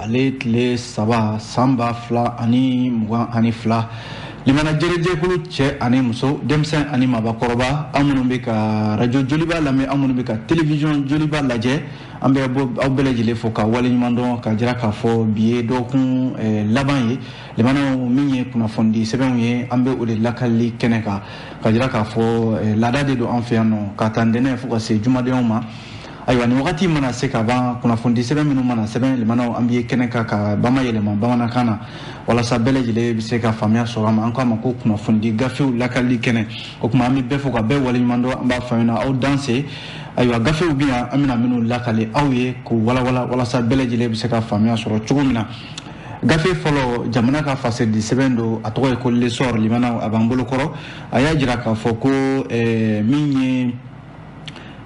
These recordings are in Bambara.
ale tile saba san ba fila ani mugan ani fila limana jɛrɛjɛkulu cɛ ani muso denmisɛn ani mabakɔrɔba an minnu bɛ ka rajo joliba lamɛn an minnu bɛ ka telewisiyɔn joliba lajɛ an bɛ aw bɛɛ lajɛlen fo ka waleɲuman dɔn k'a jira k'a fɔ bi ye dɔgɔkun eh, laban ye limanaw min ye kunnafonidi sɛbɛnw ye an bɛ o de lakalili kɛnɛ kan k'a jira k'a fɔ eh, laada de don an fɛ yan nɔ k'a ta ntɛnɛn fo ka se jumadonw ma ayiwa ni wagati mana se ka ban kunnafonidi sɛbɛn minnu mana sɛbɛn limanaw an bɛ kɛnɛ kan k'a bamayɛlɛma bamanankan na walasa bɛɛ lajɛlen bɛ se ka faamuya sɔrɔ a ma an k'a ma ko kunnafonidi gafew lakalili kɛnɛ o tuma an bɛ bɛɛ fo ka bɛɛ waleɲuman dɔn an b'a fɔ na aw danse ayiwa gafew bɛ yan an bɛna minnu lakale aw ye k'u walawala walasa bɛɛ lajɛlen bɛ se ka faamuya sɔrɔ cogo min na gafe fɔlɔ jamana ka fasɛdi sɛbɛn don a tɔgɔ ye ko l'essor limanaw a b'an bolo kɔrɔ a y'a jira k'a fɔ ko eh, min ye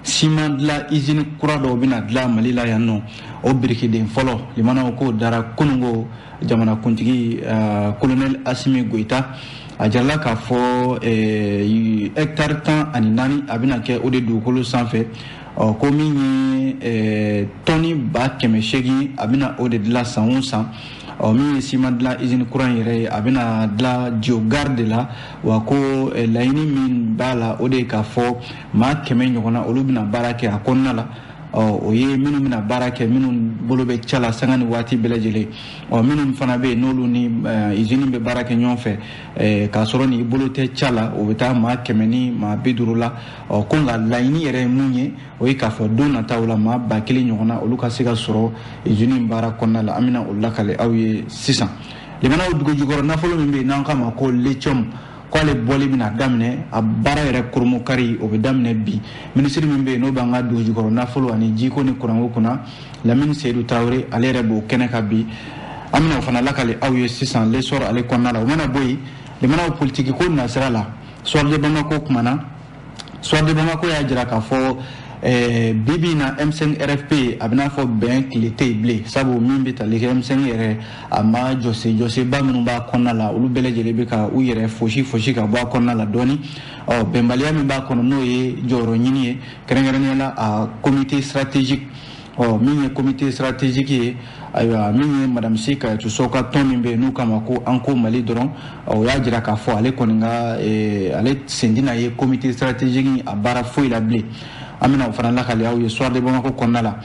siman dilan izini kura dɔw bɛna dilan mali la yan nɔ o birikiden fɔlɔ limanaw k'o dara kunungo jamanakuntigi kolonɛli eh, asimi goyita a jarala k'a fɔ hɛkitari eh, tan ani naani a bɛna kɛ o de dugukolo sanfɛ ɔ ko min ye eh, tɔni ba kɛmɛ seegin a bɛna o de dilan san o san ɔ min ye siman dilan izini kura in yɛrɛ ye a bɛna dilan dio gare de la wa ko eh, laɲini min b'a la o de ye k'a fɔ maa kɛmɛ ɲɔgɔnna olu bɛna baara kɛ a kɔnɔna la o ye minnu bɛna baara kɛ minnu bolo bɛ ca la sanga ni waati bɛɛ lajɛlen ɔ minnu fana bɛ yen n'olu ni eh, izini bɛ baara kɛ ɲɔgɔn fɛ eh, k'a sɔrɔ ni bolo tɛ ca la o bɛ taa maa kɛmɛ ni maa bi duuru la ɔ ko nka laɲini yɛrɛ ye mun ye o ye k'a fɔ don nataw la maa ba kelen ɲɔgɔnna olu ka se ka sɔrɔ izini baara kɔnɔna la an bɛna o lakale aw ye sisan limanaw dugujukɔrɔ nafolo min bɛ yen n'an k'a ma ko lithium k'ale bɔli bɛna daminɛ a baara yɛrɛ kurunbonkari o bɛ daminɛ bi minisiri min bɛ yen n'o b'an ka dugujukɔrɔ nafolo ani jiko ni kuranko kunna lamini seyidu tarawele ale yɛrɛ b'o kɛnɛ kan bi an bɛna o fana lakale aw ye sisan l'essor ale kɔnɔna la o mana bɔ yen limanaw politikiko nasira la soir de bamako kumana soir de bamako y'a jira k'a fɔ eh, bibi in na m5 rfp a bɛn'a fɔ bɛn tile tɛ yen bilen sabu min bɛ tali kɛ m5 yɛrɛ a ma jɔsen jɔsenba minnu b'a kɔnɔna la olu bɛɛ lajɛlen bɛ ka u yɛrɛ fosi fosi ka bɔ a kɔnɔna la dɔɔni ɔ bɛnbaliya min b'a kɔnɔ n'o ye jɔyɔrɔ ɲini ye kɛrɛnkɛrɛnnenya la a comité stratégique ɔ min ye comité stratégique ye ayiwa min ye madame sy kadiatou sow ka tɔn min bɛ yen n'u k'a ma ko an ko mali dɔrɔn o y'a jira k'a fɔ ale kɔni ka eh, ale sen tɛna ye comité stratégique a baara foyi la bilen an bɛna o fana lakali aw ye soir de bamako kɔnɔna la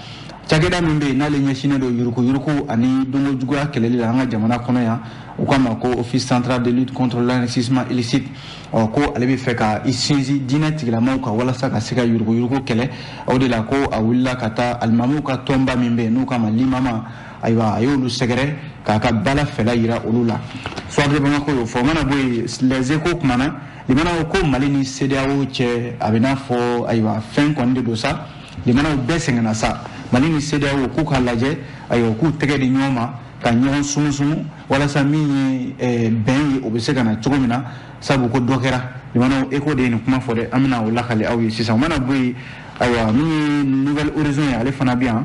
cakɛda min bɛ yen n'ale ɲɛsinnen don yurukuyuruku ani donko juguya kɛlɛli la an ka jamana kɔnɔ yan u k'a ma ko office central de lutte contre l'enrichissement illicite ɔ ko ale b'a fɛ ka i sinsin diinɛ tigilamaw kan walasa ka se ka yuruguyurugu kɛlɛ o de la ko a wulila ka taa alimamuw ka tɔnba min bɛ yen n'u k'a ma limama ayiwa a y'olu sɛgɛrɛ k'a ka bala fɛla yira olu la soir de bamako y'o fɔ o mana bɔ yen les échos kumana limanaw ko mali ni cedeao cɛ a bɛ n'a fɔ ayiwa fɛn kɔni de don sa limanaw bɛɛ sɛgɛnna sa mali ni cedeao k'u k'a lajɛ ayiwa k'u tɛgɛ di ɲɔgɔn ma ka ɲɔgɔn sumusumu walasa min ye eh, bɛn ye o bɛ se ka na cogo min na sabu ko dɔ kɛra limanaw échos de ye nin kuma fɔ dɛ an bɛna o lakali aw ye sisan o mana bɔ yen ayiwa min ye nouvel horizon ye ale fana bɛ yan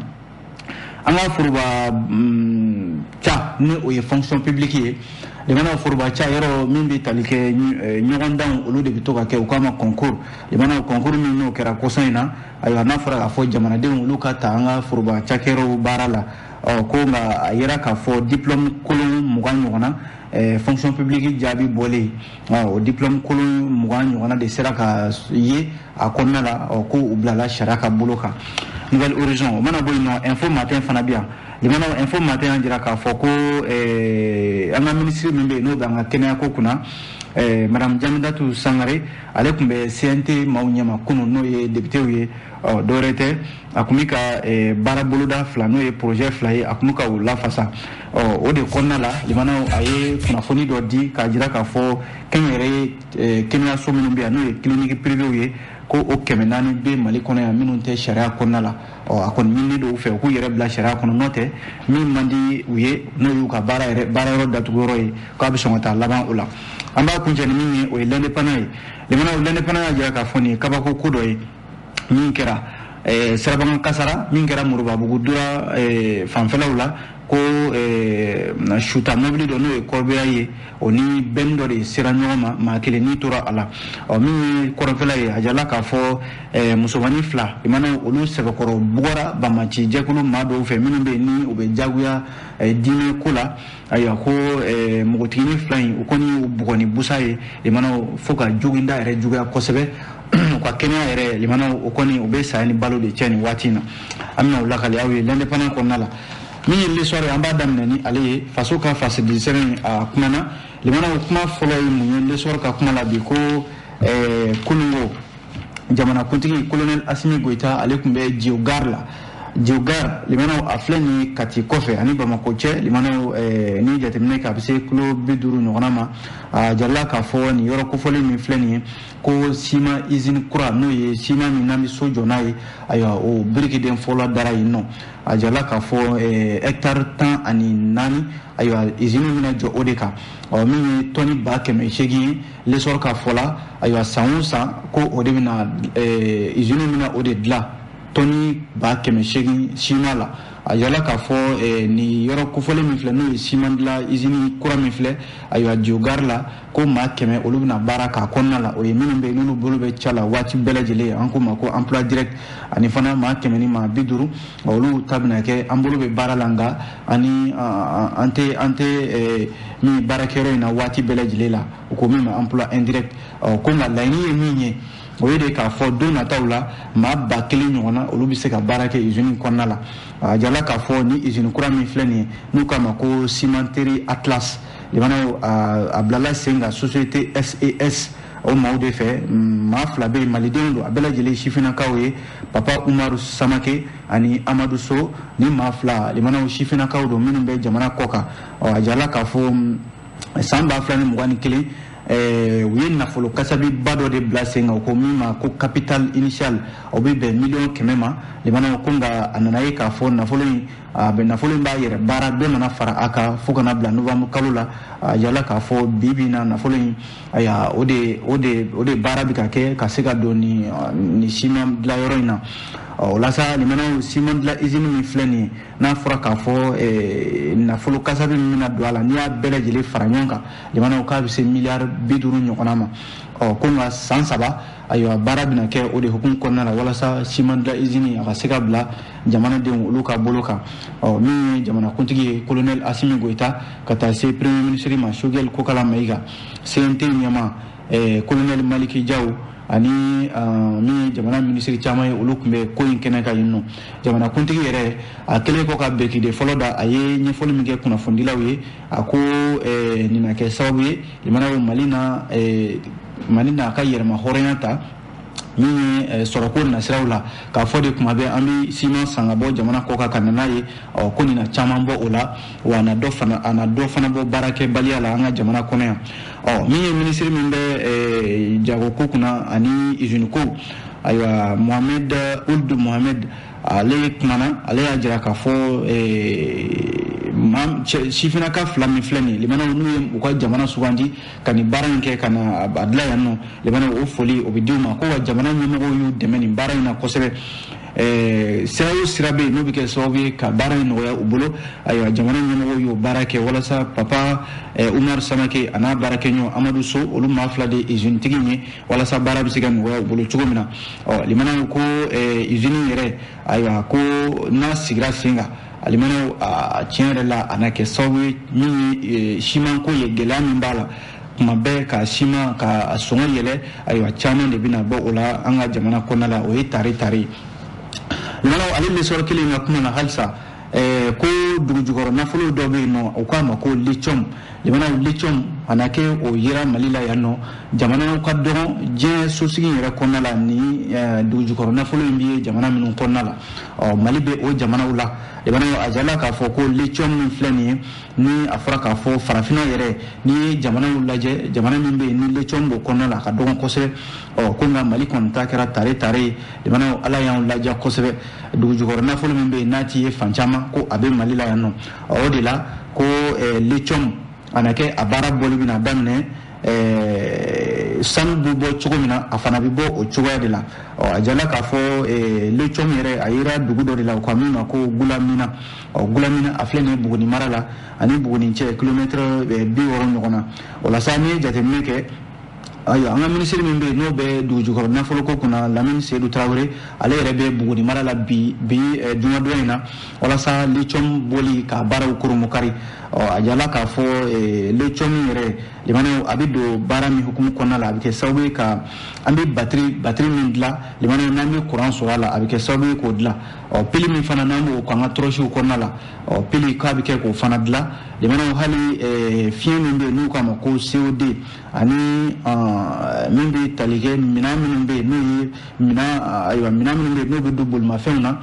an ka foroba ca mm, ni o ye fonction publique ye limanaw foroba ca yɔrɔ min bɛ tali kɛ eh, ɲɔgɔndanw olu de bɛ to ka kɛ u k'a ma concours limanaw concours min n'o kɛra kɔsa in na ayiwa n'a fɔra k'a fɔ jamanadenw olu ka ta an ka foroba cakɛyɔrɔw baara la ɔ ko nka a yera k'a fɔ diplôme kolon mugan ɲɔgɔnna eh, fonction publique jaabi bɔlen ah, o diplôme kolon mugan ɲɔgɔnna de sera ka ye a kɔnɔna la ah, ko u bilala sariya ka bolo kan nouvel horizon o mana bɔ yen nɔ info matin fana bɛ yan limana info matin y'a jira k'a fɔ ko eh, an ka minisiri min bɛ yen n'o bɛ an ka kɛnɛyako kunna eh, madame jeminatu sangare ale tun bɛ cnt maaw ɲɛma kunun n'o ye depitew ye ah, dɔwɛrɛ tɛ a tun bɛ ka eh, baara boloda fila n'o ye porozɛ fila ye a tun bɛ ka u lafasa o de kɔnɔna la limanaw a ye kunnafoni dɔ di k'a jira k'a fɔ kɛnyɛrɛ ye eh, kɛnɛyaso minnu bɛ yan n'o ye clinique privéew ye ko o kɛmɛ naani bɛ mali kɔnɔ yan minnu tɛ sariya kɔnɔna la a kɔni ɲininen don u fɛ u k'u yɛrɛ bila sariya kɔnɔ n'o tɛ min man di u ye n'o y'u ka baara yɛrɛ baara yɔrɔ datugu yɔrɔ ye k'a bɛ sɔn ka taa laban o la an b'a kuncɛ ni min ye o ye l'indépendant ye limanaw l'indépendant y'a jira k'a fɔ nin ye kabako ko dɔ ye min kɛra eh, sirabakan kasaara min kɛra moribabugu dura eh, fanfɛlaw la ko eh, suta mobili dɔ n'o ye corbillard ye o ni bɛnni dɔ de sera ɲɔgɔn ma maa kelen ni tora a la ɔ min ye kɔrɔnfɛla ye a jirala k'a fɔ eh, musomannin fila limanaw olu sɛbɛkɔrɔ bugɔra banbaanci jɛkulu maa dɔw fɛ minnu bɛ yen ni u bɛ jagoya eh, diinɛ ko la ayiwa ko eh, npogotigini fila in u kɔni y'u bugɔ ni busan ye limanaw fo ka joginda yɛrɛ juguya kosɛbɛ u ka kɛnɛya yɛrɛ limanaw o kɔni u bɛ saya ni balo de cɛ nin waati in na an bɛna u lakali aw ye l'indépendant kɔnɔna la min ye l'essor an b'a daminɛ ni ale ye faso ka fasidilisɛbɛn a kumana limanaw kuma fɔlɔ ye mun ye l'essor ka kuma la bi ko eh, kunun ko jamanakuntigi kolonɛl asimi goyita ale tun bɛ dio gare la dio gare limanaw a filɛ ni kati kɔfɛ ani bamakɔ cɛ limanaw eh, ni jateminɛ kɛ a bɛ se kilo bi duuru ɲɔgɔnna ma a jirala k'a fɔ nin yɔrɔ kofɔlen min filɛ nin ye ko siman izini kura n'o ye siman min n'an bɛ so jɔ n'a ye ayiwa o birikiden fɔlɔ dara yen nɔ a jirala k'a fɔ eh, hɛkitari tan ani naani ayiwa izini bɛna jɔ o de kan ɔ min ye tɔni ba kɛmɛ seegin ye le sɔrɔ k'a fɔ la ayiwa san o san ko o de bɛna izini eh, bɛna o de dilan tɔni ba kɛmɛ seegin siman na a jirala k'a fɔ eh, nin yɔrɔ kofɔlen min filɛ n'o ye siman dilan izini kura min filɛ ayiwa jogari la ko maa kɛmɛ olu bɛna baara k'a kɔnɔna la o ye minnu bɛ n'olu bolo bɛ ca la waati bɛɛ lajɛlen an k'o ma ko emploi direct ani fana maa kɛmɛ ni maa bi duuru olu ta bɛna kɛ an bolo bɛ baara la nka ani an tɛ an tɛ mɛɛn baarakɛyɔrɔ in na waati bɛɛ lajɛlen la u ko min ma emploi indirect ko nka laɲini ye min ye o ye de k'a fɔ don nataw la maa ba kelen ɲɔgɔnna olu bɛ se ka baara kɛ izini kɔnɔna la a jirala k'a fɔ ni izini kura min filɛ nin ye n'u k'a ma ko cimenterie atlas limanaw a bilala sen kan société ses o maaw de fɛ maa fila bɛ yen malidenw don a bɛɛ lajɛlen sifinnakaw ye papa umaru samake ani amadu so ni maa fila limanaw sifinnakaw don minnu bɛ jamana kɔ kan ɔ a jirala k'a fɔ san ba fila ni mugan ni kelen Eh, u ye nafolo kasabiba dɔ de bila sen kan ko min ma ko capital initial o bɛ bɛn miliyɔn kɛmɛ ma limanaw ko nka a nana ye k'a fɔ nafolo in a bɛ nafolo in b'a yɛrɛ baara dɔ nana fara a kan fo ka n'a bila novembre kalo la a jirala k'a fɔ bi bi in na nafolo in ayiwa o de o de o de baara bɛ ka kɛ ka se ka don ni ni siman dilan yɔrɔ in na o la sa limanaw siman dilan izini min filɛ nin ye n'a fɔra k'a fɔ eh, nafolo kasabi min bɛna don a la n'i y'a bɛɛ lajɛlen fara ɲɔgɔn kan limanaw k'a bɛ se miliyari bi duuru ɲɔgɔnna ma ɔ ko nka san saba ayiwa baara bɛna kɛ o de hukumu kɔnɔna la walasa siman dilan izini a ka se ka bila jamanadenw olu ka bolo kan ɔ min ye jamanakuntigi ye kolonɛli asimi goyita ka taa se premier minisiri ma sogɛli kokala mayiga cnt ɲɛmaa eh, kolonɛli maliki jaw ani ah, min ye jamana minisiri caman ye olu tun bɛ ko in kɛnɛ kan yen nɔ jamanakuntigi yɛrɛ a kɛlen kɔ ka birikiden fɔlɔ da a ye ɲɛfɔli min kɛ kunnafonidilaw ye a ko eh, nin na kɛ sababu ye jamana bɛ mali na eh, mali n'a ka yɛrɛmahɔrɔnya ta min ye eh, sɔrɔko nasiraw la k'a fɔ de kuma bɛɛ an bɛ siman san ka bɔ jamana kɔ kan ka na n'a ye ɔ ko nin na caman bɔ o la wa a na dɔ fana a na dɔ fana bɔ baarakɛbaliya la an ka jamana kɔnɔ yan ɔ min ye minisiri min bɛ jagoko kunna ani iziniko ayiwa mohamed ould mohamed ale kumana ale y'a jira k'a fɔ sifinnaka fila min filɛ nin limanaw n'u ye u ka jamana sugandi ka nin baara in kɛ ka na a dilan yan nɔ limanaw o foli o bɛ di u ma ko wa jamana ɲɛmɔgɔw y'u dɛmɛ nin baara in na kosɛbɛ Eh, sira o sira bɛ yen n'o bɛ kɛ sababu ye ka baara in nɔgɔya u bolo ayiwa jamana ɲɛmɔgɔw y'o baara kɛ walasa papa eh, umaru samake a n'a baarakɛɲɔgɔn amadu so olu maa fila de ye izini tigi ye walasa baara bɛ se ka nɔgɔya u bolo cogo min na ɔ limanaw ko izini eh, yɛrɛ ayiwa ko n'a sigira sen kan limanaw a tiɲɛ yɛrɛ la a na kɛ sababu ye min ye eh, simanko ye gɛlɛya min b'a la kuma bɛɛ ka siman k'a sɔngɔ yɛlɛ ayiwa caman de bɛna bɔ o la an ka jamana kɔnɔna la o ye tare tare limanaw ale lesɔrɔ kelen ka kuma na halisa ɛɛ ko dugujukɔrɔ nafolo dɔ bɛ yen n'u k'a ma ko lithium limanaw lithium a na kɛ o yera mali la yan nɔ jamanaw ka dɔgɔn diɲɛ sosigi yɛrɛ kɔnɔna la ni eh, dugujukɔrɔ nafolo in bɛ jamana minnu kɔnɔna la ɔ mali bɛ o jamanaw la limanaw a jala k'a fɔ ko lithium min filɛ nin ye ni a fɔra k'a fɔ farafinna yɛrɛ n'i ye jamanaw lajɛ jamana min bɛ yen ni lithium b'o kɔnɔna la a ka dɔgɔn kosɛbɛ ɔ ko nka mali kɔni ta kɛra tare tare ye limanaw ala y'anw ladiya kosɛbɛ dugujukɔrɔ nafolo min bɛ yen n'a ti ye fan caman ko a bɛ mali la yan nɔ o de la ko eh, lithium a na kɛ a baara bɔli bɛna daminɛ eh, sanu bɛ bɔ cogo min na a fana bɛ bɔ o cogoya de la ɔ a jala k'a fɔ eh, lithium yɛrɛ a yera dugu dɔ de la u ko min ma ko gulamina ɔ gulamina a filɛ nin ye buguni mara la a ni buguni cɛ kilomɛtɛrɛ bi wɔɔrɔ ɲɔgɔn na o la sa n'i ye jateminɛ kɛ ayiwa an ka minisiri min bɛ yen n'o bɛ dugujukɔrɔ nafoloko kunna lamini seyidu tarawele ale yɛrɛ bɛ buguni mara la bi bi eh, jumadon in na walasa lithium bɔli ka baaraw kurunbonkari a jala k'a fɔ eh, lithium yɛrɛ limanaw a bɛ don baara min hukumu kɔnɔna la a bɛ kɛ sababu ye ka an bɛ batiri batiri min dilan limanaw n'an bɛ kuran sɔrɔ a la a bɛ kɛ sababu ye k'o dilan ɔ pili min fana n'an b'o k'an ka tɔrɔsiw kɔnɔna la ɔ pili k'a bɛ kɛ k'o fana dilan limanaw hali eh, fiɲɛ min bɛ yen n'u k'a ma ko cod ani min bɛ tali kɛ minɛn minnu bɛ yen n'o ye minɛn ayiwa minɛn minnu bɛ yen n'o bɛ don bolimafɛnw na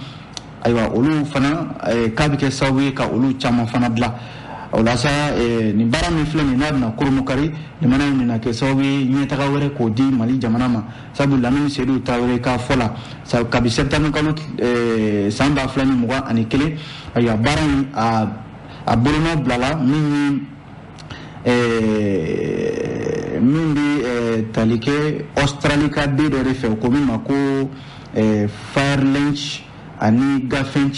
ayiwa olu fana k'a bɛ kɛ sababu ye ka olu caman fana dilan o la sa nin baara min filɛ nin n'a bɛna kurunbonkari limanaw bɛna kɛ sababu ye ɲɛtaga wɛrɛ k'o di mali jamana ma sabu lamini seyidu tarawele ka fɔ la sabu kabi sɛtanburu kalo san ba fila ni mugan ani kelen ayiwa baara in a bolonɔ bilala min ye min bɛ tali kɛ ɔsitarali ka den dɔ de fɛ u ko min ma ko firefinch ani ganfeng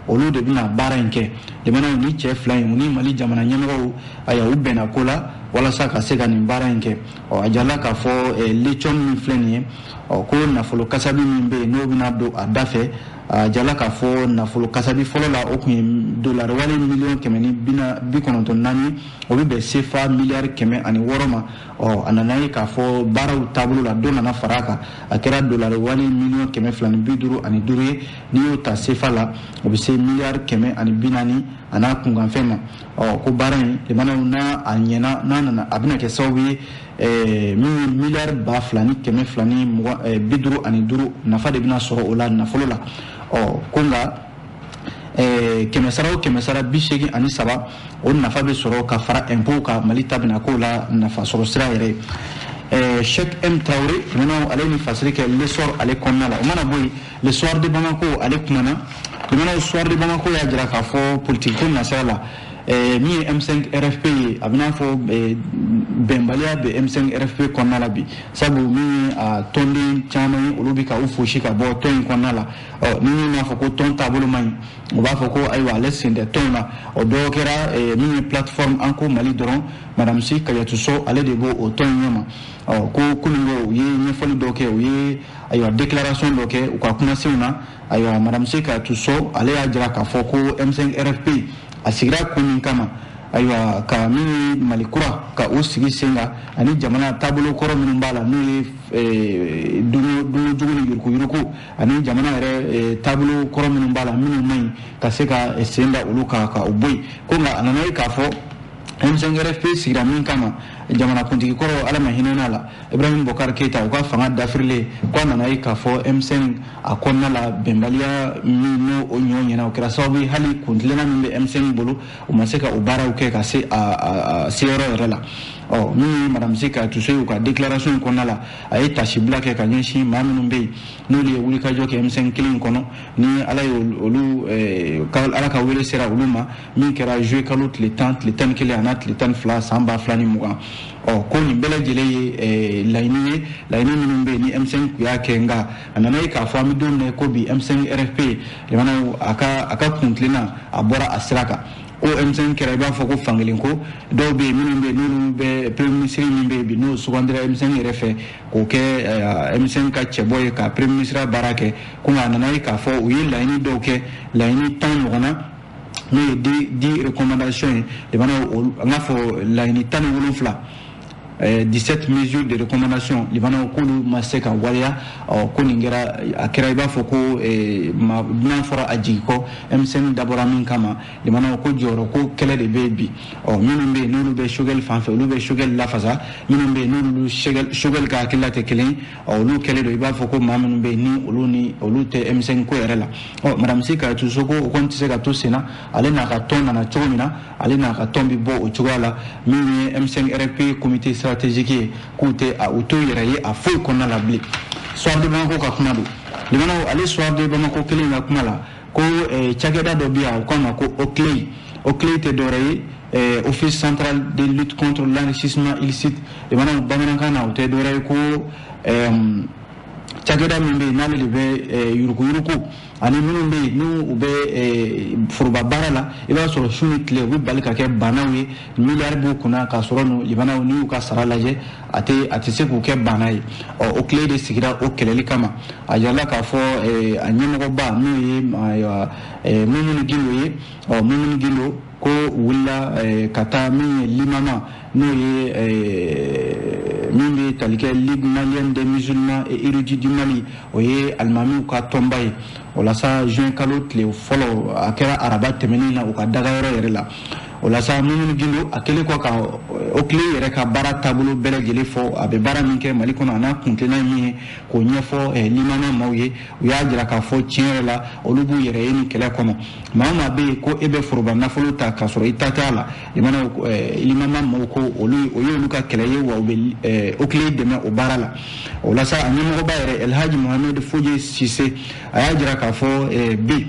olu de bɛna baara in kɛ limanaw ni cɛ fila in ni mali jamana ɲɛmɔgɔw ayiwa u bɛnna ko la walasa ka se ka nin baara in kɛ ɔ a jala k'a fɔ lithium min filɛ nin ye ɔ ko nafolo kasabi min bɛ yen n'o bɛna don a da fɛ a jala k'a fɔ nafolo kasabi fɔlɔ la o tun ye dolari wale miliyɔn kɛmɛ ni bi kɔnɔntɔn naani ye o bɛ bɛn sefa miliyari kɛmɛ ani wɔɔrɔ ma ɔ a nana ye k'a fɔ baaraw taabolo la dɔ nana fara a kan a kɛra dolari wale miliyɔn kɛmɛ fila ni bi duuru ani duuru ye n'i y'o ta sefa la o bɛ se miliyari kɛmɛ ani bi naani ani a kunkanfɛn ma ɔ ko baara in limanaw n'a a ɲɛna n'a nana a bɛna kɛ sababu ye eh, min ye miliyari ba fila ni kɛmɛ fila ni mugan eh, bi duuru ani duuru nafa de bɛna sɔrɔ o la nafolo la ɔ ko nka eh, kɛmɛ sara o kɛmɛ sara bi seegin ani saba o nafa bɛ sɔrɔ ka fara impôt kan mali ta bɛna k'o la nafa sɔrɔ sira yɛrɛ ye eh, cheick m traoré limanaw ale ni fasiri kɛ l'essor ale kɔnɔna la o mana bɔ yen le soir de Bamako ale kumana limanaw soir de Bamako y'a jira k'a fɔ politique ko nasira la eh, min ye M5 RFP ye a bɛna fɔ eh, bɛnbaliya bɛ M5 RFP kɔnɔna la bi sabu min ye a tɔnden caman ye olu bɛ ka u fosi ka bɔ tɔn in kɔnɔna la ɔ ni min y'a fɔ ko tɔn taabolo man ɲi o b'a fɔ ko ayiwa ale sen tɛ tɔn na o dɔw kɛra eh, min ye plateforme an ko mali dɔrɔn madame sy kadiatou sow ale de b'o o tɔn in ɲɛma ɔ ko kunungo u ye ɲɛfɔli dɔw kɛ u ye ayiwa déclaration dɔ kɛ u ka kumasenw na ayiwa madame sy kadiatou sow ale y'a jira k'a fɔ ko m5 rfp a sigira kun min kama ayiwa ka min ye mali kura ka o sigi sen kan ani jamana taabolo kɔrɔ minnu b'a la n'o ye eh, dunko jugu ni yurukuyuruku ani jamana yɛrɛ eh, taabolo kɔrɔ minnu b'a la minnu man ɲi ka se ka eh, sen da olu kan ka o bɔ yen ko nka a nana ye k'a fɔ M5 RFP sigira min kama jamanakuntigi kɔrɔ ala ma hinɛna la ibrahim boubacar keita u ka fanga dafirilen k'a nana ye k'a fɔ M5 a kɔnɔna la bɛnbaliya min n'o o ɲɔ ɲɛna o kɛra sababu ye hali kuntilenna min bɛ M5 bolo u ma se ka o baaraw kɛ ka se a seyɔrɔ yɛrɛ la ɔ min ye madame sy kadiatou sow ye u ka déclaration kɔnɔna la a ye taasibila kɛ ka ɲɛsin maa minnu bɛ yen n'olu ye wulikajɔ kɛ M5 kɛlɛ in kɔnɔ ni ala ye olu ala ka wele sera olu ma min kɛra juillet kalo tile tan tile tan ni kelen an'a tile tan ni fila san ba fila ni mugan ɔ ko nin bɛɛ lajɛlen ye eh, laɲini ye laɲini minnu bɛ yen ni M5 tun y'a kɛ nka a nana ye k'a fɔ an bɛ don min na ko bi M5 RFP limanaw a ka a ka kuntilenna a bɔra a sira kan ko M5 kɛra i b'a fɔ ko fankelen ko dɔw bɛ yen minnu bɛ yen n'olu bɛ premier ministre min bɛ yen bi n'o sugandira M5 yɛrɛ fɛ k'o kɛ eh, M5 ka cɛbɔ ye ka premier ministre baara kɛ ko nka a nana ye k'a fɔ u ye laɲini dɔw kɛ laɲini tan ɲɔgɔnna n'o ye dix recommandations ye limanaw an k'a fɔ laɲini tan ni wolonfila 17 mesures de recommandation limanaw k'olu ma se ka waleya ko nin kɛra a kɛra i b'a fɔ ko dunan fɔra a jigi kɔ M5 dabɔra min kama limanaw ko jɔyɔrɔ ko kɛlɛ de bɛ yen bi ɔ minnu bɛ yen n'olu bɛ choguel fan fɛ olu bɛ choguel lafasa minnu bɛ yen n'olu choguel ka hakilila tɛ kelen olu kɛlen don i b'a fɔ ko maa minnu bɛ yen ni olu ni olu tɛ M5 ko yɛrɛ la ɔ madame sy kadiatou sow ko o kɔni tɛ se ka to senna ale n'a ka tɔn nana cogo min na ale n'a ka tɔn bɛ bɔ o cogoya la min ye M5 RFP comité stratégique ye k'u tɛ u t'u yɛrɛ ye a foyi kɔnɔna la bilen soir de bamako ka kuma don limanaw ale soir de bamako kelen ka kuma la ko eh, cakɛda dɔ bɛ yan u k'a ma ko oclei oclei tɛ dɔwɛrɛ ye eh, office central de lutte contre l'enrichissement illicite i mana bamanankan na o tɛ dɔwɛrɛ ye ko eh, cakɛda min bɛ yen n'ale de bɛ eh, yurukuyuruku ani minnu bɛ yen n'u u bɛ eh, foroba baara la i b'a sɔrɔ su ni tile u bɛ bali ka kɛ baanaw ye miliyari b'u kunna k'a sɔrɔ nin libanaw n'i y'u ka sara lajɛ a tɛ a tɛ se k'u kɛ baana ye ɔ oclei de sigira o kɛlɛli kama a yirala k'a fɔ eh, a ɲɛmɔgɔba n'o ye ayiwa eh, mumuni gindo ye ɔ mumuni gindo ko wulila eh, ka taa min ye limama n'o ye eh, min bɛ tali kɛ ligue malienne des musulmans et érudits du mali o ye alimamiw ka tɔnba ye o la sa juin kalo tile fɔlɔ a kɛra araba tɛmɛnen na u ka dagayɔrɔ yɛrɛ la o la sa mumuni gindo a kɛlen kɔ ka oclei yɛrɛ ka baara taabolo bɛɛ lajɛlen fɔ a bɛ baara min kɛ mali kɔnɔ an'a kuntilenna min ye k'o ɲɛfɔ eh, limama maaw ye u y'a jira k'a fɔ tiɲɛ yɛrɛ la olu b'u yɛrɛ ye nin kɛlɛ kɔnɔ maa o maa bɛ yen ko e bɛ foroba nafolo ta k'a sɔrɔ i ta t'a la i mana eh, limama mɔgɔw ko olu o y'olu ka kɛlɛ ye wa u bɛ eh, oclei dɛmɛ o baara la o la sa a ɲɛmɔgɔba yɛrɛ elhaji mohamed foje sise a y'a jira k'a fɔ eh, bi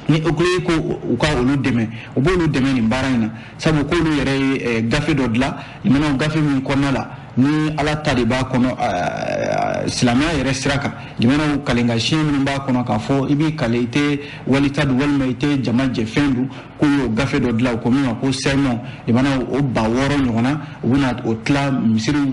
ni oclei ko u ka olu dɛmɛ u b'olu dɛmɛ nin baara in na sabu k'olu yɛrɛ ye gafe dɔ dilan limanaw gafe min kɔnɔna la ni ala ta de b'a kɔnɔ silamɛya yɛrɛ sira kan limanaw kalenkan siɲɛ minnu b'a kɔnɔ k'a fɔ i b'i kale i tɛ wali ta dun walima i tɛ jama jɛfɛn dun k'u y'o gafe dɔ dilan u ko min ma ko sermon limanaw o ba wɔɔrɔ ɲɔgɔnna u bɛna o tila misiriw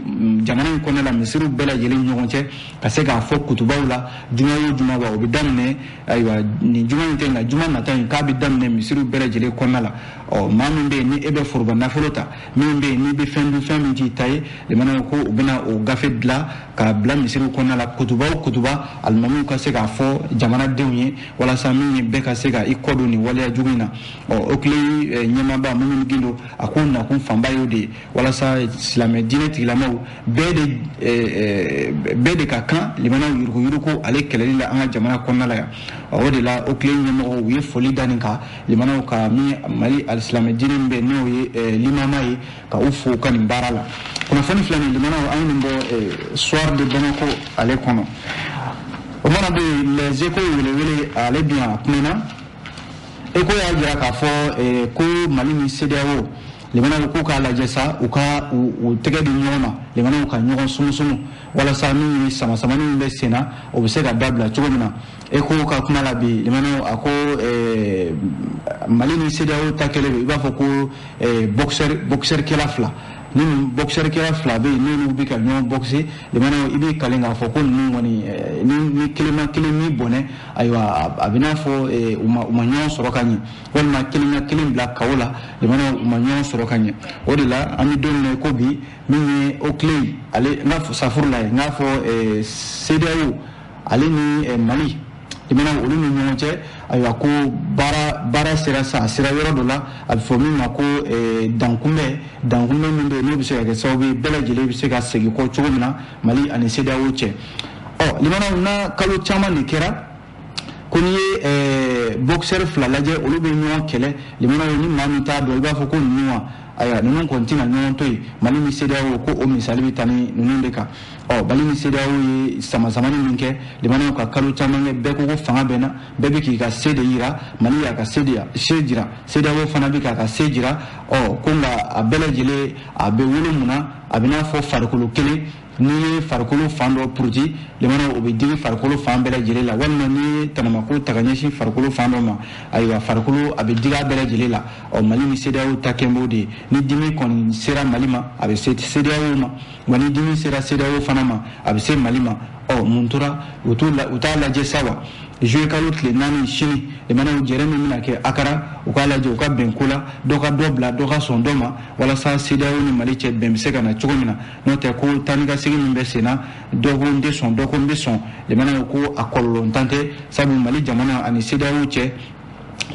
jamana in kɔnɔna la misiriw bɛɛ lajɛlen ɲɔgɔn cɛ ka se k'a fɔ kutubaw la juma o juma wa o bɛ daminɛ ayiwa nin juma in tɛ nka juma nata in k'a bɛ daminɛ misiriw bɛɛ lajɛlen kɔnɔna la ɔ maa min bɛ yen ni e bɛ foroba nafolo ta min bɛ yen n'i bɛ fɛn dun fɛn min t'i ta ye limanaw ko u bɛna o gafe dilan k'a bila misiriw kɔnɔna la kutuba o kutuba alimamiw ka se k'a fɔ jamanadenw ye walasa min ye bɛɛ ka se ka i kɔdon nin waleya jugu in na ɔ oclei eh, ɲɛmaaba mumuni gindo a k'o nakun fanba y'o de ye walasa silamɛ diinɛ tigilamaw bɛɛ de eh, eh, bɛɛ de ka kan limanaw yuruguyurugu ale kɛlɛli la an ka jamana kɔnɔna la yan o de la oclei ɲɛmɔgɔw u ye foli da nin kan limanaw ka min mali alisilamɛ diinɛ min bɛ n'o ye limama ye ka u fo ka nin baara la kunnafoni filɛ nin limanaw an ye nin bɔ eh, soir de bamako ale kɔnɔ o mana bɛ yen les échos welewele ale bɛ yan a kumana échos y'a jira k'a fɔ eh, ko mali ni cedeao limanaw k'u k'a lajɛ sa u ka u tɛgɛ di ɲɔgɔn ma limanaw ka ɲɔgɔn sumusumu walasa min ye samasamani min bɛ sen na o bɛ se ka dabila cogo min na Echos ka kuma la bi lamɛnnaw a ko eh, mali ni sedeyaw ta kɛlen don i b'a fɔ ko eh, boxeur boxeur kɛla fila ni boxeur kɛla fila bɛ yen n'olu bɛ ka ɲɔgɔn boxe lamɛnnaw i bɛ kalen k'a fɔ ko ninnu kɔni eh, ni ni kelen ma kelen ni bɔnɛ ayiwa a- a bɛ n'a fɔ eh, u ma u ma ɲɔgɔn sɔrɔ ka ɲɛ walima kelen ka kelen bila KO la lamɛnnaw u ma ɲɔgɔn sɔrɔ ka ɲɛ o de la an bɛ don min na i ko bi min ye o kile ale n ka fɔ safurula ye n k'a fɔ eh, sedeyaw ale ni eh, mali lamɛnnaw olu ni ɲɔgɔn cɛ ayiwa ko baara baara sera sa a sera yɔrɔ dɔ la a bɛ fɔ min ma ko eh, dankunbɛ dankunbɛ min bɛ yen n'o bɛ se ka kɛ sababu ye bɛɛ lajɛlen bɛ se ka segin kɔ cogo min na mali ani sedeyawo cɛ ɔ oh, lamɛnnaw na kalo caman de kɛra ko n'i ye eh, boxeur fila lajɛ olu bɛ ɲɔgɔn kɛlɛ lamɛnnaw ni maa min t'a dɔn i b'a fɔ ko ninnu wa ayiwa ninnu kɔni tɛna ɲɔgɔn to yen mali ni sedeyawo ko o misali bɛ taa ni ninnu de kan ɔ mali ni sedeyawo ye samasamani min kɛ lamɛnnaw ka kalo caman kɛ bɛɛ ko ko fanga bɛ n na bɛɛ bɛ k'i ka se de yira mali y'a ka se de se jira sedeyawo fana bɛ k'a ka se jira ɔ ko nka a bɛɛ lajɛlen a bɛ wolo mun na a bɛ n'a fɔ farikolo kelen n'i ye farikolo fan dɔ puruti lamɛnnaw o bɛ digi farikolo fan bɛɛ lajɛlen la walima n'i ye tanamako ta ka ɲɛsin farikolo fan dɔ ma ayiwa farikolo a bɛ digi a bɛɛ lajɛlen la ɔ mali ni sedeyaw ta kɛn b'o de ye ni dimi kɔni sera mali ma a bɛ se sedeyaw ma wa ni dimi sera sedeyaw fana ma a bɛ se mali ma ɔ mun tora u t'u la u t'a lajɛ sa wa zuwɛn kalo tile naani sini lamɛnnaw jɛrɛ min bɛna kɛ akara u k'a lajɛ u ka bɛn ko la dɔ ka dɔ bila dɔ ka sɔn dɔ ma walasa sedeyaw ni mali cɛ bɛn bɛ se ka na cogo min na n'o tɛ ko taa ni ka segin min bɛ senna dɔ ko n tɛ sɔn dɔ ko n bɛ sɔn lamɛnnaw ko a kɔlɔlɔntan tɛ sabu mali jamana ani sedeyaw cɛ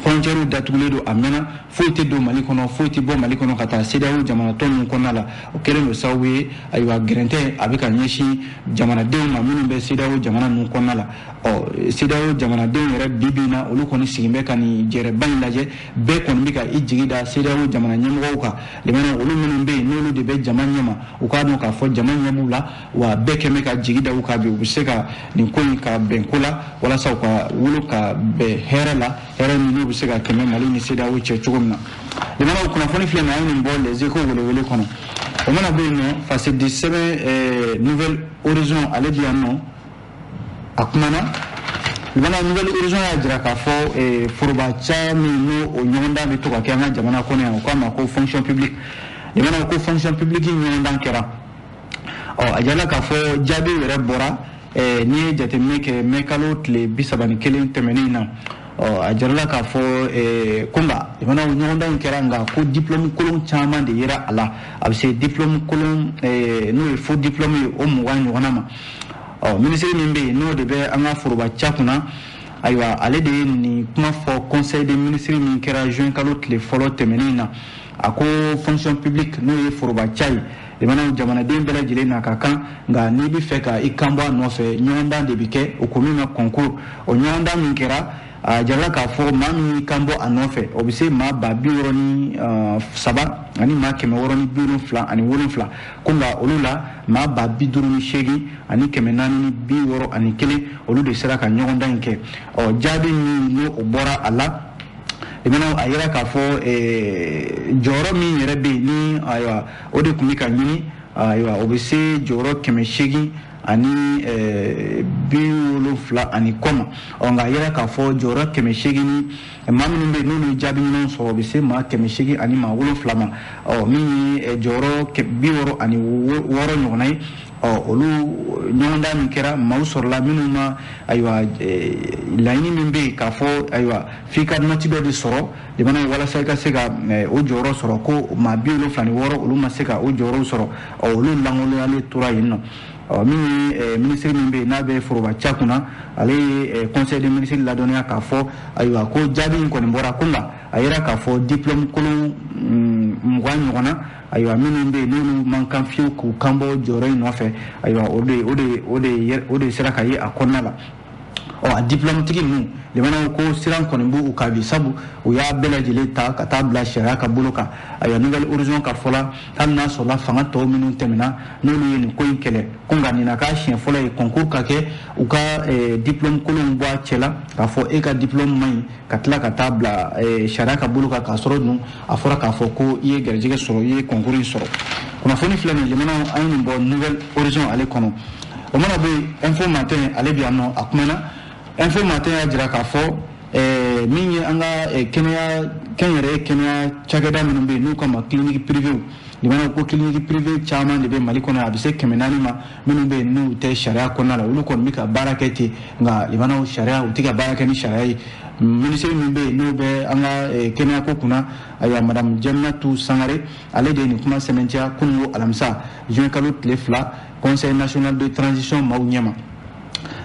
frontière datugulen don a mɛnna foyi tɛ don mali kɔnɔ foyi tɛ bɔ mali kɔnɔ ka taa sedeyaw jamana tɔw ninnu kɔnɔna la o kɛlen don sababu ye ayiwa gɛrɛntɛ a bɛ ka ɲɛsin jamanadenw ma minnu bɛ sedeyaw jamana ninnu kɔnɔna la ɔ sedeyaw jamanadenw yɛrɛ bi bi in na olu kɔni sigin bɛ ka nin jɛrɛba in lajɛ bɛɛ kɔni bɛ ka i jigi da CEDEAO jamana ɲɛmɔgɔw kan lamɛnnaw olu minnu bɛ yen n'olu de bɛ jama ɲɛma u k'a dɔn k'a fɔ jama ɲɛ b'u la wa bɛɛ kɛlen bɛ ka jigi da u kan bi u bɛ se ka nin ko in ka bɛn ko la walasa u ka wolo ka bɛn hɛrɛ la hɛrɛ min n'o bɛ se ka kɛ Mali ni CEDEAO cɛ cogo min na lamɛnnaw o kunnafoni filɛ nin ye an ye nin bɔ Les Echos welewele kɔnɔ o mana bɔ yen nɔ fasidisɛbɛn Nouvel Horizon ale bɛ yan nɔ a kumana lamɛnnaw nouvel horizon y'a jira k'a fɔ eh, foroba caya min n'o o ɲɔgɔndan bɛ to ka kɛ an ka jamana kɔnɔ yan u k'a ma ko fonction publique lamɛnnaw ko fonction publique ɲɔgɔndan kɛra ɔ a jirala k'a fɔ jaabiw yɛrɛ bɔra eh, n'i ye jateminɛ kɛ mɛ kalo tile bi saba ni kelen tɛmɛnen na ɔ a jirala k'a fɔ eh, ko nka jamana ɲɔgɔndan in kɛra nka ko diplɔmu kolon caman de yera a la a bɛ se diplɔmu kolon eh, n'o ye faux diplɔmu ye o mugan ɲɔgɔnna ma ɔ minisiri min bɛ yen n'o de bɛ an ka foroba ca kunna ayiwa ale de ye nin kuma fɔ conseil des ministres min kɛra juin kalo tile fɔlɔ tɛmɛnen na a ko fonction publique n'o ye foroba ca ye lamɛnnaw jamanaden bɛɛ lajɛlen n'a ka kan nka n'i bɛ fɛ ka i kan bɔ a nɔfɛ ɲɔgɔndan de bɛ kɛ o ko min ma concours o ɲɔgɔndan min kɛra a jirala k'a fɔ maa min y'i kan bɔ a nɔfɛ o bɛ se maa ba bi wɔɔrɔ ni uh, saba ani maa kɛmɛ wɔɔrɔ ni bi wolonfila ani wolonfila ko nka olu la maa ba bi duuru ni seegin ani kɛmɛ naani ni bi wɔɔrɔ ani kelen olu de sera ka ɲɔgɔndan in kɛ ɔ jaabi min n'o bɔra a la lamɛnnaw a yira k'a fɔ eh, jɔyɔrɔ min yɛrɛ bɛ yen ni ayiwa o de tun bɛ ka ɲini ayiwa o bɛ se jɔyɔrɔ kɛmɛ seegin ani eh, bi wolonfila ani kɔ ma ɔ nka a yira k'a fɔ jɔyɔrɔ kɛmɛ seegin ni maa minnu bɛ yen n'olu ye jaabi ɲuman sɔrɔ o bɛ se maa kɛmɛ seegin ani maa wolonfila ma ɔ min ye eh, jɔyɔrɔ bi wɔɔrɔ ani wɔɔrɔ ɲɔgɔnna ye ɔ olu ɲɔgɔndan min kɛra maaw sɔrɔla minnu ma ayiwa eh, laɲini min bɛ yen k'a fɔ ayiwa f'i ka nɔti dɔ de sɔrɔ jamana ye walasa i ka se ka o jɔyɔrɔ sɔrɔ ko maa bi wolonfila ni wɔɔrɔ olu ma se ka o jɔyɔrɔw sɔrɔ olu lankoloyalen tora yen ɔ min ye minisiri min bɛ yen n'a bɛ foroba ca kunna ale ye conseil des ministres ladɔnniya k'a fɔ ayiwa ko jaabi in kɔni bɔra ko nka a yira k'a fɔ diplôme kolon mugan ɲɔgɔnna ayiwa minnu bɛ yen n'olu man kan fiyewu k'u kan bɔ jɔyɔrɔ in nɔfɛ ayiwa o eh, o de sera ka ye a kɔnɔna la ɔ a diplɔmutigi ninnu lamɛnnaw ko siran kɔni b'u kan bi sabu u y'a bɛɛ lajɛlen ta ka taa bila sariya ka bolo kan ayiwa nouvel horizon ka fɔ la hali n'a sɔrɔla fanga tɔw minnu tɛmɛna n'olu ye nin ko in kɛlɛ ko nka nin na k'a siɲɛ fɔlɔ ye concours ka kɛ u ka eh, diplôme kolonw bɔ a cɛ la k'a fɔ e ka diplôme man ɲi ka tila ka taa bila eh, sariya ka bolo kan k'a sɔrɔ dun a fɔra k'a fɔ ko i ye garijɛgɛ sɔrɔ i ye concours in sɔrɔ kunnafoni filɛ nin lamɛnnaw an ye nin bɔ nouvel horizon ale kɔnɔ o mana bɔ yen info matin ale bɛ yan nɔ a kumana info matin y'a jira k'a fɔ ɛɛ min ye an ka ɛɛ kɛnyɛrɛye kɛnɛya cakɛda minnu bɛ yen n'u k'a ma clinique privée lamɛnnaw ko clinique privée caman de bɛ mali kɔnɔ a bɛ se kɛmɛ naani ma minnu bɛ yen n'u tɛ sariya kɔnɔna la olu kɔni bɛ ka baara kɛ ten nka lamɛnnaw sariya u tɛ ka baara kɛ ni sariya ye minisiri min bɛ yen n'o bɛ an ka eh, kɛnɛyako kunna ayiwa madamu jaminatu sangare ale de ye nin kuma sɛbɛntiya kununko alamisa juin kalo tile fila conseil national de transition maaw ɲɛma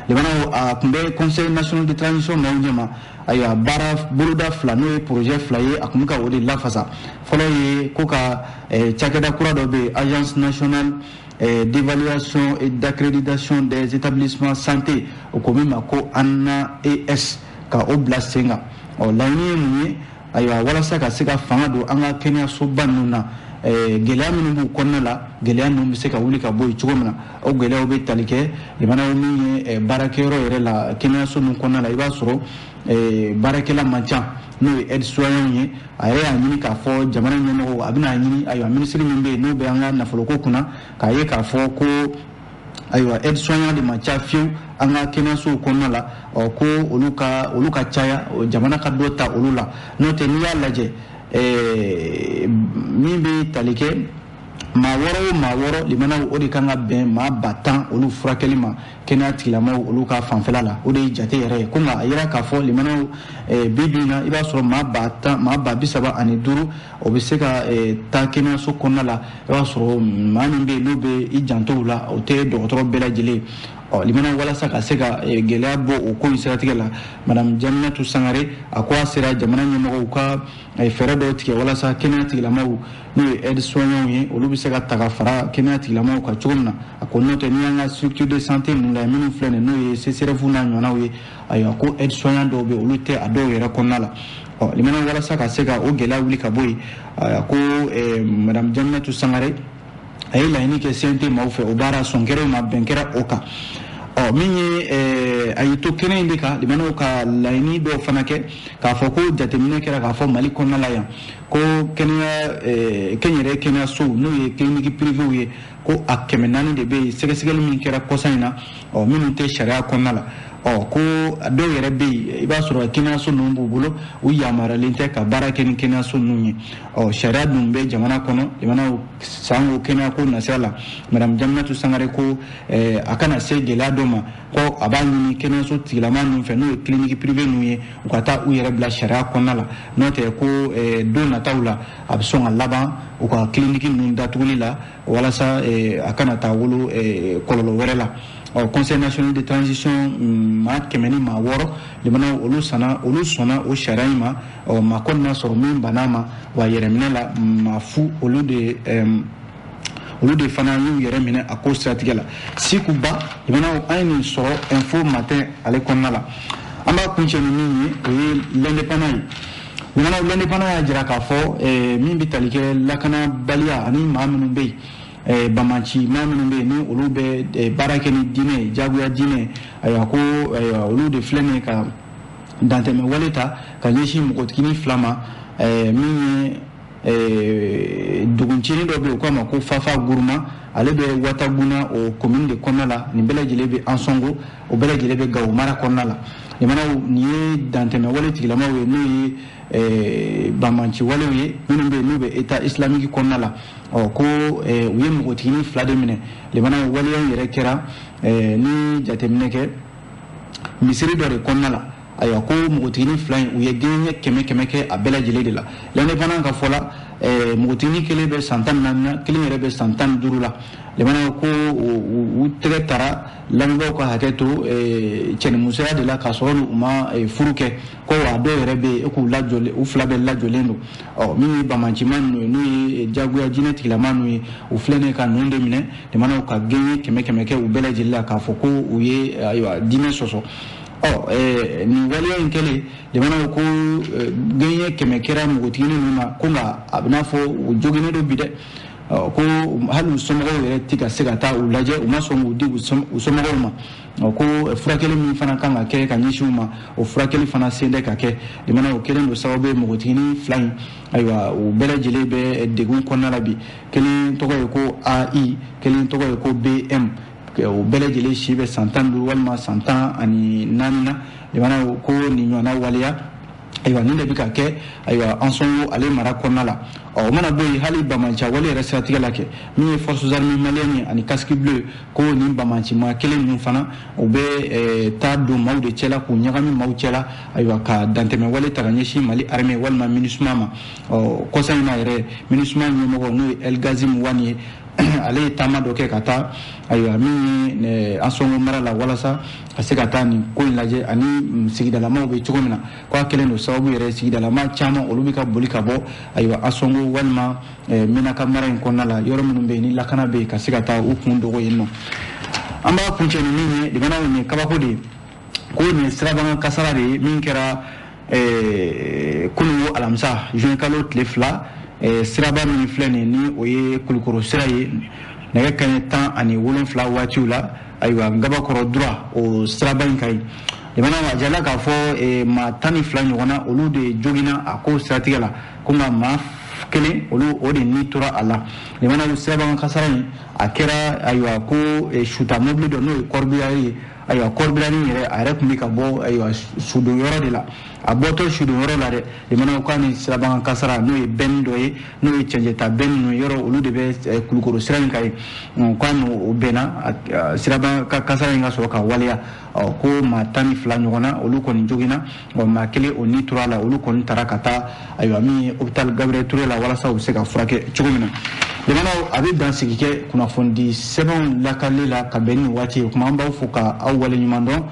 lamɛnnaw a tun bɛ conseil national de transition maaw ɲɛma ayiwa baara boloda fila n'o ye projet fila ye a tun bɛ ka o de lafasa fɔlɔ ye ko ka eh, cakɛda kura dɔ bɛ yen agence nationale Eh, d'évaluation et d'accréditation des établissements santé o ko min ma ko anaes ka o bila sen kan ɔ laɲini ye mun ye ayiwa walasa ka se ka fanga don an ka kɛnɛyasoba ninnu na eh, gɛlɛya minnu b'u kɔnɔna la gɛlɛya ninnu bɛ se ka wuli ka bɔ yen cogo min na o gɛlɛyaw bɛ tali kɛ jamana ɔ min ye eh, baarakɛyɔrɔ yɛrɛ la kɛnɛyaso ninnu kɔnɔna la i b'a sɔrɔ Eh, baarakɛla man ca n'o ye aide soignant ye a yɛrɛ y'a ɲini k'a fɔ jamana ɲɛmɔgɔw a bɛna ɲini ayiwa minisiri min bɛ yen n'o bɛ an ka nafoloko kunna k'a ye k'a fɔ ko ayiwa aide soignant de man ca fiyewu an ka kɛnɛyasow kɔnɔna la ɔ ko olu ka olu ka caya jamana ka dɔ ta olu la n'o tɛ n'i y'a lajɛ eh, min bɛ tali kɛ maa wɔɔrɔ o maa wɔɔrɔ limanaw o de kan ka bɛn maa ba tan olu furakɛli ma kɛnɛya tigilamaw olu ka fanfɛla la o de ye jate yɛrɛ ye ko nka a yira k'a fɔ limanaw eh, bi bi na i b'a sɔrɔ maa ba tan maa ba bi saba ani duuru o bɛ se ka eh, taa kɛnɛyaso kɔnɔna la i b'a sɔrɔ maa min bɛ yen n'o bɛ i janto u la o tɛ dɔgɔtɔrɔ bɛɛ lajɛlen ye ɔ limanaw walasa ka se ka eh, gɛlɛya bɔ o ko in siratigɛ la madame jaminatu sangare a ko a sera jamana ɲɛmɔgɔw ka fɛɛrɛ dɔw tigɛ walasa kɛnɛya tigilamaw n'o ye aide soignant ye olu bɛ se ka ta ka fara kɛnɛya tigilamaw kan cogo min na a ko n'o tɛ n'i y'an ka structure de santé ninnu lajɛ minnu filɛ nin n'o ye csref n'a ɲɔgɔnnaw ye ayiwa ko aide soignant dɔw bɛ yen olu tɛ a dɔw yɛrɛ kɔnɔna la ɔ limana walasa ka se ka o gɛlɛya wuli ka bɔ yen a ko eh, madame jaminatu sangare a ye laɲini kɛ cnt maaw fɛ o baara sɔn kɛra o ma bɛn kɛra o kan ɔ min ye eh, a y'i to kɛnɛ in de kan limanaw ka laɲini dɔw fana kɛ k'a fɔ ko jateminɛ kɛra k'a fɔ mali kɔnɔna la yan ko kɛnɛya kɛnyɛrɛ kɛnɛyasow n'o ye kiliniki pirivew ye ko a kɛmɛ naani de bɛ yen sɛgɛsɛgɛli min kɛra kɔsa in na ɔ minnu tɛ sariya kɔnɔna la ɔ ko dɔw yɛrɛ bɛ yen i b'a sɔrɔ kɛnɛyaso ninnu b'u bolo u yamaruyalen tɛ ka baara kɛ ni kɛnɛyaso ninnu ye ɔ sariya dun bɛ jamana kɔnɔ limana sanko kɛnɛyako nasira la madame jaminatu sangare ko a kana se gɛlɛya dɔ ma ko a b'a ɲini kɛnɛyaso tigilama ninnu fɛ n'o ye kiliniki pirive ninnu ye u ka taa u yɛrɛ bila sariya kɔnɔna la n'o tɛ ko eh, don nataw la a bɛ sɔn ka laban u ka kiliniki ninnu datuguli la walasa eh, a kana taa wolo eh, kɔlɔlɔ wɛrɛ la ɔ conseil national de transition mm, maa kɛmɛ ni maa wɔɔrɔ limanaw olu sanna olu sɔnna o sariya in ma ɔ maa kɔni ma sɔrɔ min banna ma wa yɛrɛminɛ la maa fu olu de olu de fana y'u yɛrɛ minɛ a ko siratigɛ la sikuba limanaw an ye nin sɔrɔ info matin ale kɔnɔna la an b'a kuncɛ ni min ye o ye l'indépendant ye limanaw l'indépendant y'a jira k'a fɔ eh, min bɛ tali kɛ lakanabaliya ani maa minnu bɛ yen eh, banbaanci maa minnu bɛ yen ni olu bɛ eh, baara kɛ ni diinɛ ye jagoya diinɛ ayiwa ko ayiwa olu de filɛ nin ye ka dantɛmɛ wale ta ka ɲɛsin npogotiginin fila ma min ye Eh, duguncinin dɔ bɛ yen u k'a ma ko fafa guruma ale bɛ wataguna o komini de kɔnɔna la nin bɛɛ lajɛlen bɛ ansɔngo o bɛɛ lajɛlen bɛ gawo mara kɔnɔna la lemana nin ye dantɛmɛwale tigilamaw ye n'o ye eh, banbaanciwalew ye minnu bɛ yen n'u bɛ eta isilamiki kɔnɔna la ɔ ko eh, u ye npogotiginin fila de minɛ lemana waleya yɛrɛ kɛra ni jateminɛ kɛ misiri dɔ de kɔnɔna la ayiwa ko npogotigini fila in u ye gɛɲɛ kɛmɛ kɛmɛ kɛ a bɛɛ lajɛlen de la l'indépendant ka fɔ la eh, npogotigini kelen bɛ san tan ni naani na kelen yɛrɛ bɛ san tan ni duuru la lemana ko u tɛgɛ tara lamɛnbaaw ka hakɛ to eh, cɛnimusoya de la k'a sɔrɔ u ma eh, furu kɛ ko wa dɔw yɛrɛ bɛ yen k'u lajɔlen u fila bɛɛ lajɔlen don ɔ min ye banbaanciman ninnu ye n'u ye jagoya diinɛ tigilama ninnu ye u filɛ nin ka ninnu de minɛ lemana ka gɛɲɛ kɛmɛ kɛmɛ kɛ u bɛɛ lajɛlen la k'a fɔ ko u ye ayiwa diinɛ sɔsɔ ɔ eh, nin waleya in kɛlen lemana ko ko eh, gɛɲɛ kɛmɛ kɛra npogotiginin ninnu na ko nka a bɛ n'a fɔ u joginnen don bi dɛ ko hali u somɔgɔw yɛrɛ tɛ ka se ka taa u lajɛ u ma sɔn k'u di u somɔgɔw ma ko furakɛli min fana kan ka kɛ ka ɲɛsin u ma o furakɛli fana sen tɛ ka kɛ lemana o kɛlen don sababu ye npogotiginin fila in ayiwa u bɛɛ lajɛlen bɛ degun kɔnɔna la bi kelen tɔgɔ ye ko ai kelen tɔgɔ ye ko bm o bɛɛ lajɛlen si bɛ san tan ni duuru walima san tan ani naani na lemana ko nin ɲɔgɔnna waleya ayiwa nin de bɛ ka kɛ ayiwa ansɔngo ale mara kɔnɔna la ɔ o mana bɔ yen hali banbaanci wale yɛrɛ siratigɛ la kɛ min ye forces armées maliennes ye ani casque bleu ko nin banbaancima kelen ninnu fana u bɛ eh, taa don maaw de cɛla k'u ɲagami maaw cɛla ayiwa ka dantɛmɛ wale ta ka ɲɛsin mali armée walima minusma ma ɔ kɔsa in na yɛrɛ minusma ɲɛmɔgɔ n'o ye elgazim wani ye ale ye taama dɔ kɛ ka taa ayiwa min ye eh, ansɔngo mara la walasa ka se ka taa nin ko in lajɛ ani mm, sigidalamaw bɛ cogo min na k'a kɛlen don sababu yɛrɛ sigidalama caman olu bɛ ka boli ka bɔ ayiwa ansɔngo walima eh, menaka mara in kɔnɔna la yɔrɔ minnu bɛ yen ni lakana bɛ yen ka se ka taa u kun dogo yen nɔ an b'a kuncɛ ni min ye lemana nin ye kabako de ye ko nin ye sirabakan kasara de ye min kɛra eh, kunun alamisa juin kalo tile fila eh, siraba min filɛ nin ni o ye kulukoro sira ye nɛgɛ kanɲɛ tan ani wolonfila waatiw la ayiwa ngabakɔrɔ durwa o siraba in kan yen lemana a jirala k'a fɔ eh, maa tan ni fila ɲɔgɔnna olu de joginna a ko siratigɛ la ko nka maa kelen olu o de ni tora a la lemana sirabakan kasara in a kɛra ayiwa ko suta mobili dɔ n'o ye corbillard ye ayiwa corbillard yɛrɛ a yɛrɛ tun bɛ ka bɔ ayiwa sudon yɔrɔ de la a bɔtɔ sudon yɔrɔ la dɛ lemana k'a ni sirabakan kasara n'o ye bɛnni dɔ ye n'o ye cɛncɛnta bɛnni ninnu yɔrɔ olu de bɛ eh, kulukoro sira in kan yen k'a n'o bɛnna sirabakan kasara in ka sɔrɔ ka waleya ko maa tan ni fila ɲɔgɔnna olu kɔni joginna bon maa kelen o ni tora la olu kɔni taara ka taa ayiwa min ye hôpital gabriel ture la walasa u bɛ se ka furakɛ cogo min na lamɛnnaw an bɛ dansigi kɛ kunnafonidi sɛbɛnw lakali la ka bɛn ni waati ye kuma an b'aw fo ka aw wale ɲuman dɔn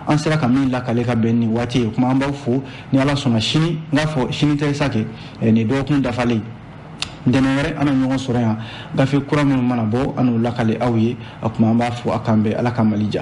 an sera ka min lakale ka bɛn ni waati ye kuma an b'aw fo ni ala sɔnna sini n k'a fɔ sini tɛ sa kɛ eh, nin dɔgɔkun dafalen ntɛnɛn wɛrɛ an na ɲɔgɔn sɔrɔ yan gafe kura minnu mana bɔ an n'u lakale aw ye a kuma an b'aw fo a k'an bɛn ala ka mali ja